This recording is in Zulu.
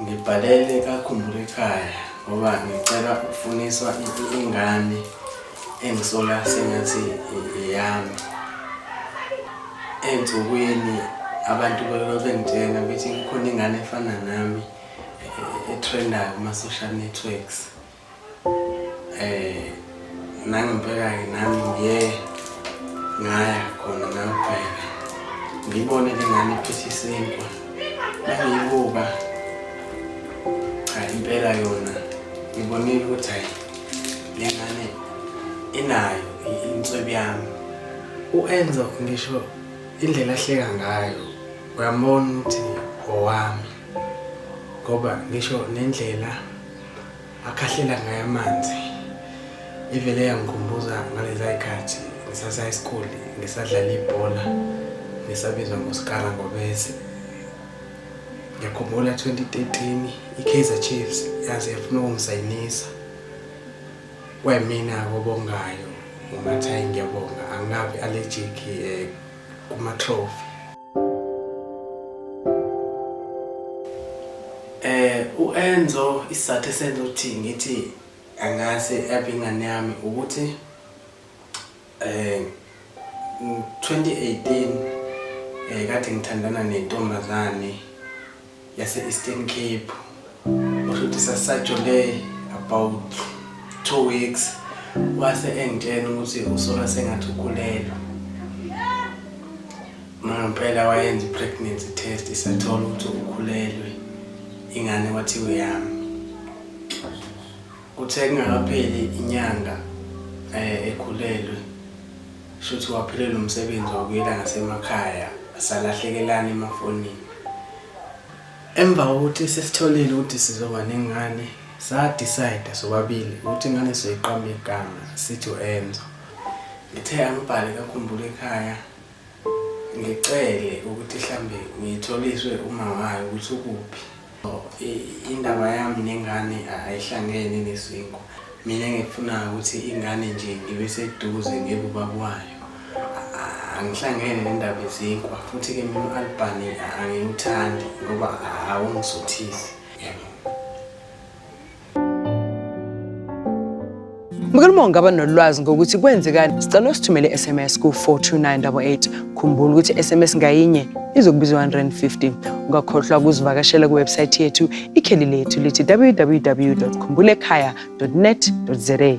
Ngibhalele kakhumbula ekhaya ngoba ngicela ukufuniswa ingane engisola sengathi eyami ensukwini abantu bebengitshena bethi kukhona ingane efana nami e-trendayo kuma-social networks Eh nangempela-ke nami ngiye ngaya khona ngayobheka ngibone le ngane iphethe isinkwa nangiyibuka cha impela yona ngibonile ukuthi hayi le ngane inayo inswebu yami u-enzo ngisho indlela ahleka ngayo uyambona ukuthi owami ngoba ngisho nendlela akhahlela ngayo amanzi ivele yangikhumbuza ngaleza ikhathi ngisasa isikole ngisadlala ibhola ngisabizwa ngosikara ngobese ngiyakhumbula 2013 i-kaizer chiefs yaze yafuna ukungisayinisa kwemina kobongayo ngomathayi ngiyabonga angikabi allergic um eh, kuma-trophy Eh uEnzo isizathu esenza ukuthi ngithi angase abe ingane yami ukuthi eh 2018 eh kade ngithandana nentombazane yase-Eastern Cape usho ukuthi sasajole about two weeks wase engitshena ukuthi usola sengathi ukhulelwe mangempela wayenza i-pregnancy test isathola ukuthi ukhulelwe ingane kwathiwa yami Kuthe kungakapheli inyanga eh, ekhulelwe shuthi waphelelwa umsebenzi wabuyela ngasemakhaya salahlekelana emafonini emva kokuthi sesitholile ukuthi sizoba nengane sadecide sobabili ukuthi ingane sizoyiqamba igama sithi u-enzo ngithe angibhale kakhumbula ekhaya ngicele ukuthi mhlambe ngitholiswe uma wayo ukuthi ukuphi Indaba yami nengane ayihlangene nesinko. Mina ngikufunayo ukuthi ingane nje ngibe seduze ngibe ubaba wayo. Angihlangene nendaba yezinkwa futhi-ke mina u-Albani angiwuthandi ngoba awungisuthisi. Mkhuluma ungaba nolwazi ngokuthi kwenzekani sicela usithumele i-SMS ku-42988. Khumbula ukuthi i-SMS ngayinye izokubiza 150. Ungakhohlwa ukuzivakashela kuwebsayithi yethu ikheli lethu lithi www.khumbulekhaya.net.za.